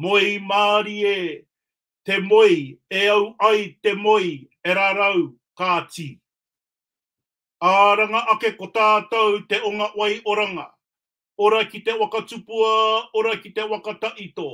Moe i mārie te moe e au ai te moe e rarau kāti. Ā ranga ake ko tātou te onga wai oranga, ora ki te waka tupua, ora ki te waka taito,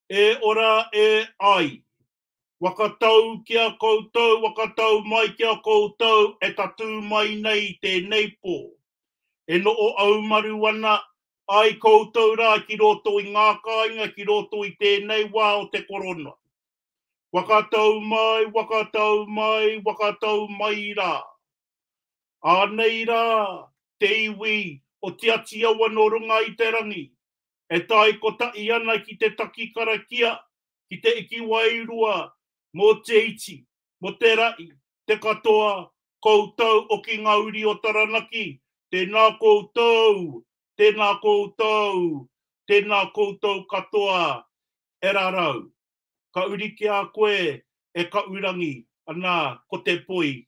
e ora e ai, Waka tau ki a koutou, waka tau mai ki a koutou e tatū mai nei i tēnei pō. E noho aumaru ana ai koutou rā ki roto i ngā kāinga ki roto i tēnei wā o te Korona. Waka tau mai, waka tau mai, waka tau mai rā. Anei rā te iwi o Tiati Awa nō runga i te rangi, e tae kotahi ana ki te taki karakia, ki te iki wairua mō te iti, mō te rahi, te katoa, koutou o ki ngā uri o Taranaki, tēnā koutou, tēnā koutou, tēnā koutou katoa e rarau. Ka uri ki a koe e Kaʻurangi, anā, ko te poi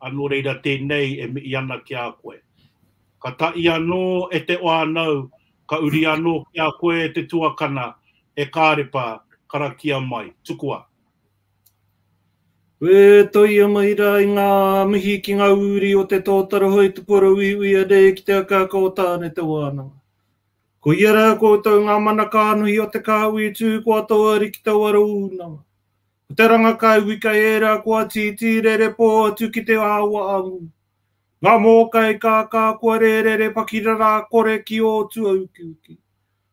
A nō reira tēnei e mihi ana ki a koe. Ka taʻi anō e te whānau, ka uri anō ki a koe e te tuakana, He Kārepa, karakia mai, tukua! E toia mai rā i ngā mihi ki ngā uri o te tōtara hoi te porouiuia nei ki te akaaka o Tāne te wānanga. Koia rā koutou ngā mana kānohi o te kāhui tū kua toa rikitau aro ūnanga. Ko te ranga kai wika ērā kua tītī rerepō atu ki te awa amu. Ngā mōkai kākā kua rērere pakirarā kore ki ō tuaukiuki.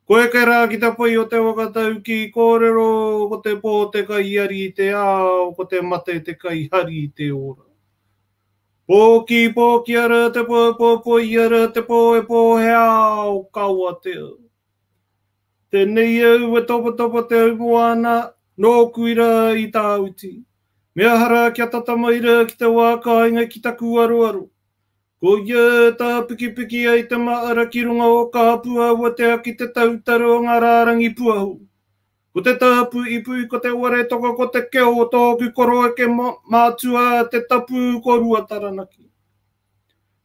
Ko eke rā ki te poi o te waka taukī kōrero ko te pō te kaiari i te ao ko te mate te kaihari i te ora. Pōkī pōkī ara te pō pōpō i ara te pō e pō he ao kawa te ao. Tenei au e tawhatawa te aumoa ana, nōku ira i tāuti. Me aha rā kia tata mai rā ki te wā kāinga ki taku aroaro. Koia e tāpikipiki ai te māra ki runga o kāpu aua te aki te tautaro o ngā rārangi puahu. Ko te tāpu ipuipu ko te ware toka ko te keo o tōku koroeke mātua te tapu ko Ruataranaki.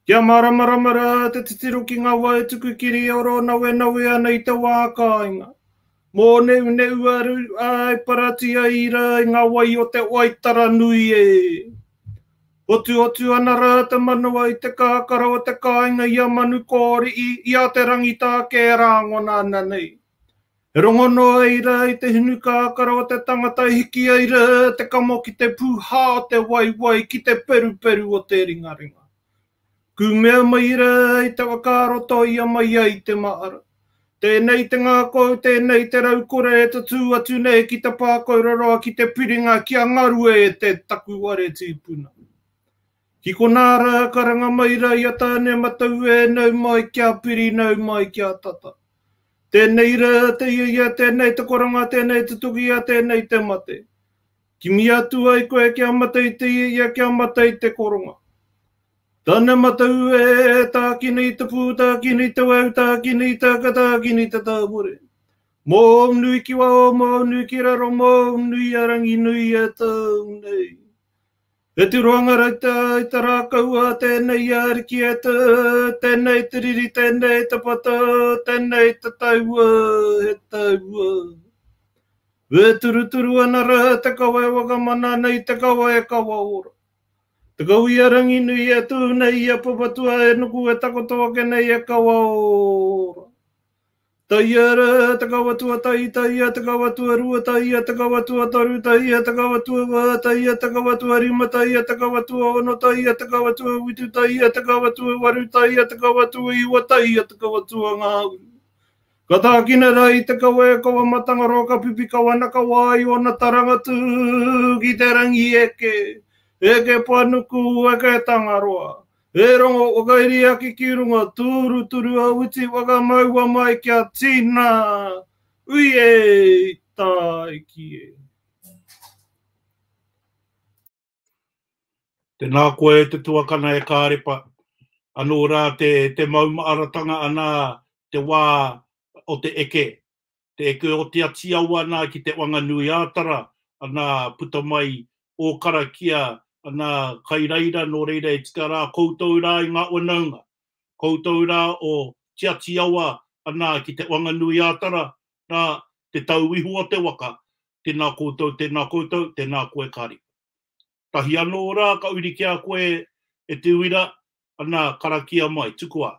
Kia māramarama rā te titiro ki ngā wā e tuku kiri e oro nawenawe ana i te wā kāinga. Mōneuneu a Ruiwa e parati ai i rā i ngā wai o te Waitara nui e. Hotuhotu ana rā te manawa i te kakara o te kāinga i a Manukōriʻi, i a Te Rangitāke e rāngona ana nei. E rongo noa ai rā i te hinu kākara o te tangata e hiki ai rā te kamo ki te pūhā o te waiwai ki te peruperu o te ringaringa. Kū mea mai rā i te whakaaro toia mai ai te mahara. Tēnei te ngākau, tēnei te raukore e tatū atu nei ki te pākauroroa ki te piringa kia ngarue e te takuware tīpuna. Ki konā rā, karanga mai rā i a Tāneamatau e nau mai ki a Piri, nau mai ki a Tata. Tēnei rā, te ia ia, tēnei te koranga, tēnei te tukia, tēnei te mate. Kimi atu ai koe kia mate i te ia ia, kia mate i te koronga. Tāneamatau e, tākina i te pū, tākina i te weu, tākina i te aka, tākina i te tāpore. Mōu nui ki waho, mōu nui ki raro, mōu nui a Ranginui e tāu nei. E tu roanga rata i ta rākau a tēnei i a Ariki e ta, tēnei te riri, tēnei te pata, tēnei te taua, he taua. E turuturu ana rā te kawa e wakamana ana i te kawa e kawa ora. Te kawa i a Ranginui e tū nei i a Papatua e nuku e takoto ake nei e kawa ora. Taiara, te kawa tuatahi, taia, te kawa tuarua, taia, te kawa tuataru, taia, te kawa tuawā, taia, te kawa tuarima, taia, te kawa tuaono, taia, te kawa tuawitu, taia, te kawa tuawaru, taia, te kawa tuaiwa, taia, te kawa tuangāuru. Ka tākina rā i te kawa e kawa matangaroa ka pipi kawa na ka wā i ōna taranga tū ki te rangi eke, eke panuku, eke tangaroa. E rongo whakairi ake ki runga, tūruturu a Witi whakamaua mai kia tina, Ui e! Tāiki e! Tēnā koe e te tuakana e Kārepa, anō rā te maumaharatanga anā te wā o te eke, Te keu o Te Atiawa ana ki Te Wanganui-ā-Tara, ana, puta mai ō karakia, ana, kai reira, nō reira e tika rā koutou rā i ngā whanaunga. Koutou rā o Te Atiawa ana ki Te Wanganui-ā-Tara, rā, te tau iho o te waka, tēnā koutou, tēnā koutou, tēnā koe Karipa. Tahi anō rā ka uri ki a koe e te uira, ana, karakia mai, tukua.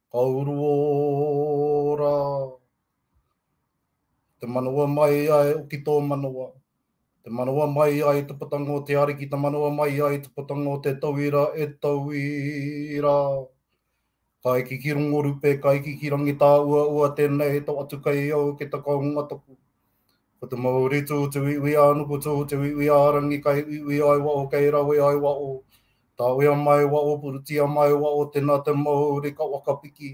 Kauruō rā. Te manawa mai ai o ki tō manawa. Te manawa mai ai te putanga o te Ariki, te manawa mai ai te putanga o te tauira e tauira. Ka eke ki Rongorupe, ka eke ki Rangitāuaua, tēnei to atu kai au ke takaunga toku. Ko te mauri tū te uiui a nuku tū te uiui a rangi kai uiui ai wa o kei rawe ai wa o tawea mai wa o purutia mai wa o tena te mauri ka wakapiki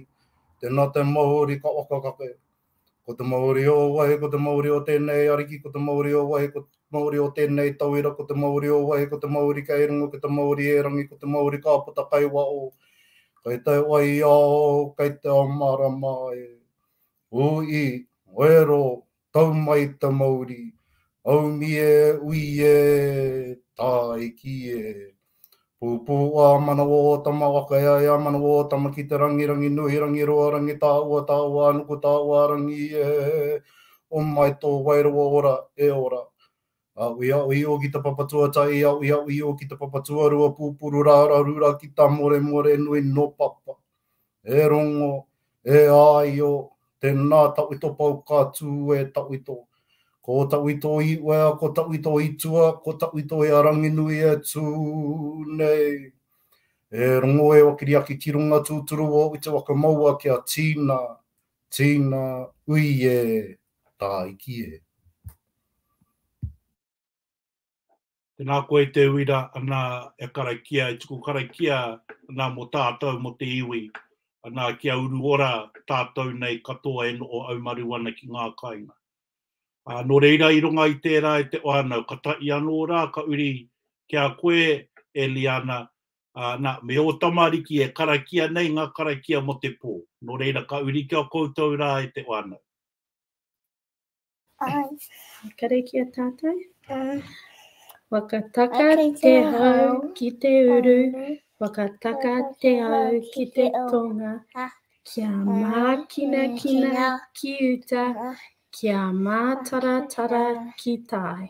tena te mauri ka wakakake ko te mauri o wai ko te mauri o tenei ariki ko te mauri o wai ko te mauri o tenei tawira ko te mauri o wai ko te mauri kai rungo ko te mauri e rangi ko te mauri ka puta kai wa o kai te wai ao kai te amarama e Ui, Wero, tau mai ta mauri, Aumi e, ui e, Taiki e. Pupu a manawa o tama waka e ai a manawa o tama ki te rangi rangi nui rangi roa rangi taua taua anuku taua rangi e. O mai to wairua ora e ora. Aui aui o ki ta papatoa tai aui aui o ki ta papatoa rua pupuru rara rura ki ta more more nui no papa. E rongo, e aio, tena tawhito pau ka tu e tawhito. Ko tawhito i wea, ko tawhito i tua, ko tawhito i a Ranginui e tu nei. E rongo e wakiriaki ki runga tuturu o uta waka maua kia tina, tina, ui e, Tāiki e. Tēnā koe te uira ana e karakia, e tuku karakia ana mo tātou, mo te iwi, ana kia uru ora tātou nei katoa e noho aumaru ana ki ngā kainga. Ā, nō reira i runga i tērā e te whānau, ka tahi anō rā ka uri ki a koe e Liana, ā, nā, me ō tamariki e karakia nei ngā karakia mo te pō, nō reira ka uri ki a koutou rā e te whānau. Ai. Kare ki a tātou. Ai. Whakataka te hau ki te uru, whakataka te hau ki te tonga, kia mākina kina ki uta, kia mātaratara ki tai.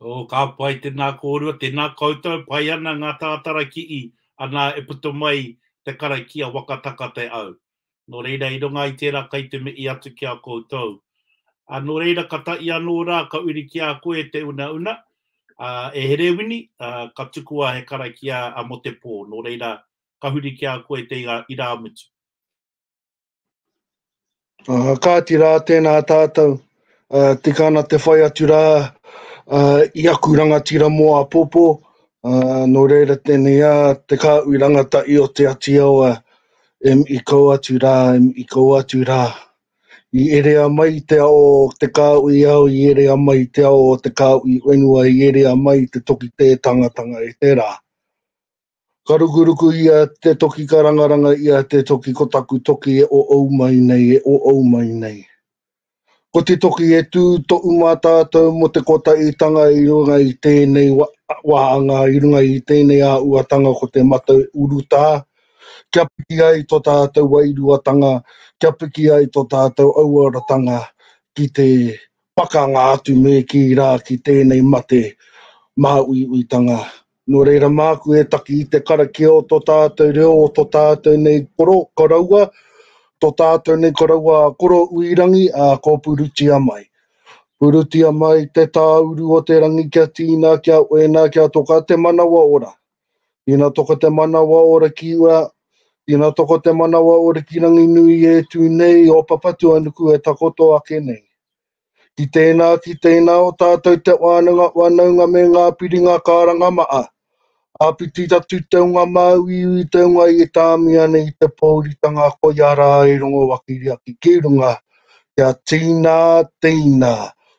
Oh, ka pai, tēnā kōrua, tēnā koutou, pai ana ngā tātara kii, anā, e puta mai te karakia waka taka te au. Nō reira, i runga i tērā kai te mihi atu ki a koutou. Ā, nō reira, ka tahi anō rā, ka uri ki a koe te unauna, ā, e Herewini, ā, ka tukua he karakia mō te pō, nō reira, ka huri ki a koe te irāmutu. Uh, kāti rā tēnā tātou, uh, tika ana te whai atu rā uh, i aku rangatira mō a Popo, uh, nō reira tēnei a te kāui rangata i o te ati awa, em i kau atu rā, em i kau atu rā. I erea mai te ao o te kāui au, i erea mai te ao o te kāui whenua, i erea mai te toki tētangatanga e te rā. Ka rukuruku ia te toki ka rangaranga ia te toki ko taku toki e oou mai nei e oou mai nei. Ko te toki e tu tou matatau mo te kotaitanga i runga i tenei wahanga i runga i tenei auatanga ko te matau uruta kia piki ai to tatou wairuatanga kia piki ai to tatou auaratanga ki te pakanga atu me ki ra ki tenei mate mahauiuitanga Nō reira māku e taki i te karakia o tō tātou reo, o tō tātou nei koro, koroua, tō tātou nei koroua a Koro Uirangi, ā, kō purutia mai. Purutia mai te tāuru o te rangi kia tīna, kia oina, kia toka te manawa ora. Tīna toka te manawa ora ki ua, tīna toka te manawa ora ki Ranginui e tū nei, o Papatuanuku e takoto ake nei. Ki tēnā, ki tēnā o tātou te wānanga, whanaunga me ngā piringa karanga maha. Āpiti atu te unga māuiui, te unga i tāmi ana i te pōuritanga koia rā e rongo wakiriaki ki runga, kia tīnā, tīnā,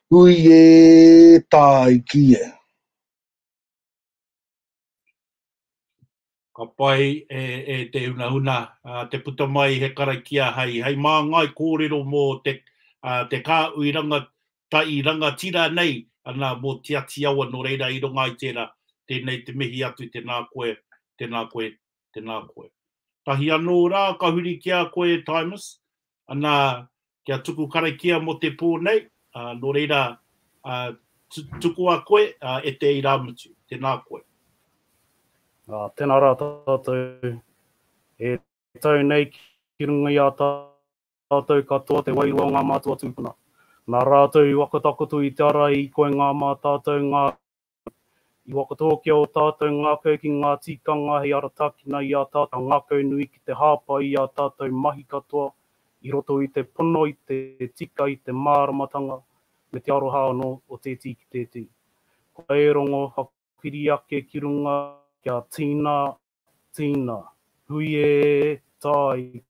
hui e, tāiki e. Ka pai e e te hunahuna te puta mai i he karakia hei hei māngai kōrero mō te te kāhui ranga tai rangatira nei ana mō Tiati Awa nō reira i runga i tērā tēnei te mihi atu tēnā koe tēnā koe tēnā koe. Tahi anō rā ka huri ki a koe e Timus, ana, kia tuku karakia mō te pō nei, ā, nō reira, ā, tu, tukua koe, ā, e te irāmutu, tēnā koe. Ā, tēnā rā tātou, e tau nei ki runga i a tātou katoa te wairua o ngā mātua tūpuna. Nā rātou i whakatakoto i te ara i koinga mā tātou ngā I whakatōkia ō tātou ngākau ki ngā tikanga hei aratakina i ā tātou ngākau nui ki te hāpai i ā tātou mahi katoa i roto i te pono i te tika i te māramatanga me te aroha anō o tēti ki tēti. Kua e rongo hapiri ake ki runga kia tīna, tīna, hui e, tai,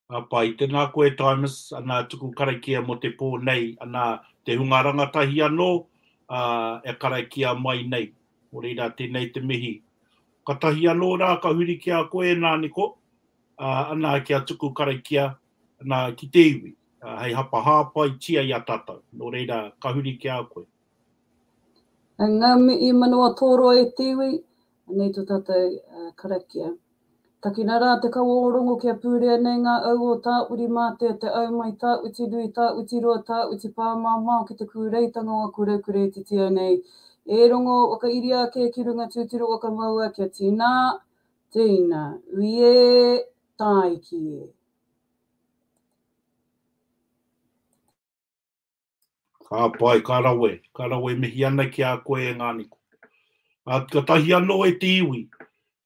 Ka pai. Tēnā koe Timus, anā tuku karakia mō te pō nei, anā te hunga rangatahi anō e karakia mai nei. Nō reira, tēnei te mihi. Ka tahi anō rā, ka huri ki a koe ēnā niko, anā kia tuku karakia, anā ki te iwi, hei hapa hāpaitia i a tātou. Nō reira, ka huri ki a koe. Ngā mihi manawa tōroa e te iwi, Anei tō tātou karakia. Takina rā te kawa o Rongo kia pūrea nei ngā au o Tāurimātea, te au mai Tāutinui, Tāutiroa, Tāutipāmamao ki te kūreitanga o aku rau kure e titio nei. E Rongo, whakairia ake ki runga tūturu o ka maua kia tīnā, tēina, ui ē, tāiki ē. Ka pai, ka rawe, ka rawe, mihi ana ki a koe e nga Niko. A katahi ano e te iwi,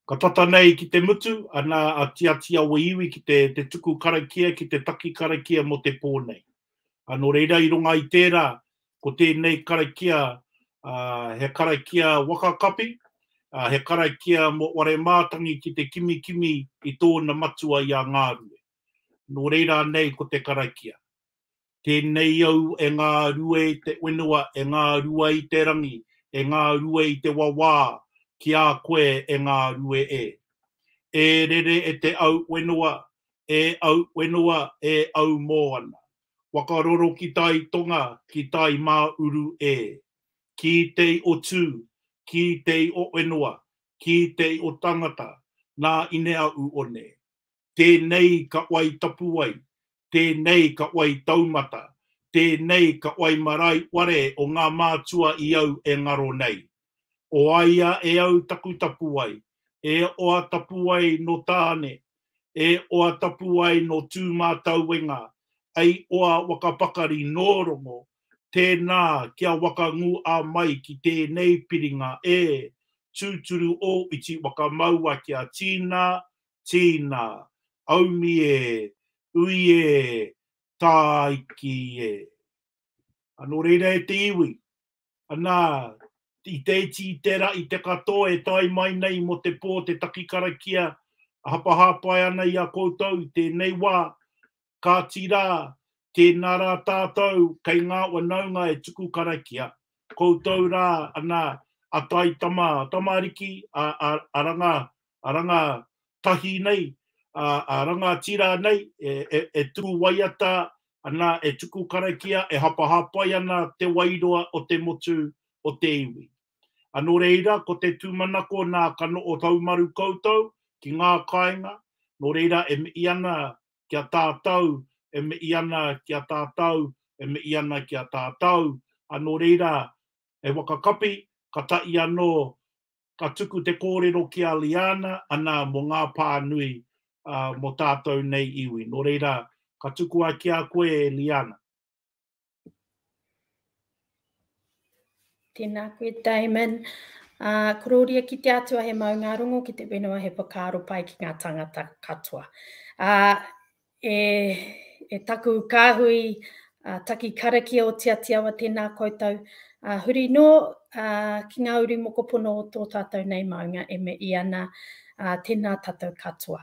ka tata nei ki te mutu, ana a Tiatia we iwi ki te te tuku karakia ki te taki karakia mo te po nei. A no reira i runga i tera, ko tenei karakia, a, he karakia waka kapi, a, he karakia mo Waremātangi ki te kimikimi i tona matua i a Ngarue. No reira anei ko te karakia. Tēnei au e ngā rue i te whenua e ngā rua i te rangi e ngā rue i te wawā ki a koe e ngā rue e. E rere e te au whenua e au whenua e au mōana wakaroro ki tai tonga ki tai mā uru e. Kī tei o tū kī tei o whenua kī tei o tangata nā ine aʻu one tēnei ka wai tapuwae, tēnei ka wai taumata, tēnei ka wai marae ware o ngā mātua i au e ngaro nei. O aia e au taku tapuwae, e oa tapuwae no Tāne, e oa tapuwae no Tūmātauenga, ei oa wakapakari nō Rongo, tēnā kia waka ngū a mai ki tēnei piringa e, tūturu ō iti wakamaua kia tīnā, tīna, aumi e, ui e, tāiki e. A nō reira e te iwi, anā, i te iti, i te ra, i te katoa e tae mai nei mō te pō te taki karakia a hapahāpai ana i a koutou i tēnei wā, Kāti rā, tēnā rā tātou kei ngā wanaunga e tuku karakia, koutou rā ana a tai tama, tamariki, a, a, a ranga, a ranga tahi nei, a, a ranga tira nei, e, e, e tuku waiata ana, e tuku karakia, e hapahāpai ana te wairua o te motu o te iwi. Anō reira, ko te tūmanako nā ka noho haumaru koutou ki ngā kāinga, nō reira e mihi ana ki a tātou, e mihi ana ki a tātou, e mihi ana ki a tātou, ā, nō reira, e whakakapi, katahi anō, ka tuku te kōrero ki a Liana, ana, mō ngā pānui, ā, mō tātou nei iwi. Nō reira, ka tukua ki a koe e Liana. Tēnā koe Damon. Uh, korōria ki te atua he maunga rongo, ki te whenua he whakaaro pai ki ngā tangata katoa. Uh, e, e taku kāhui uh, taki karakia o Tiatiawa, tēnā koutou. Uh, huri nō uh, ki ngā uri mokopono o tō tātou nei maunga e me i ana, uh, tēnā tātou katoa.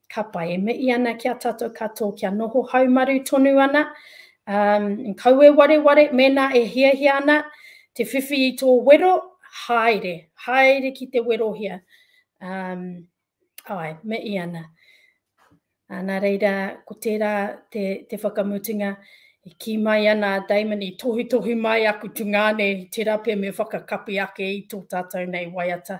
Ka pai, e mihi ana ki a tatou katoa kia noho haumaru tonu ana, umm, kaua wareware mēnā e hiahia ana te whiwhi i tō wero, haere, haere ki te werohia, umm, āe, mihi ana. Ā, nā reira, ko tērā te, te whakamutunga, i kī mai ana a Damon, i tohutohu mai aku tungāne i te rape me whakakapi ake i tō tātou nei waiata.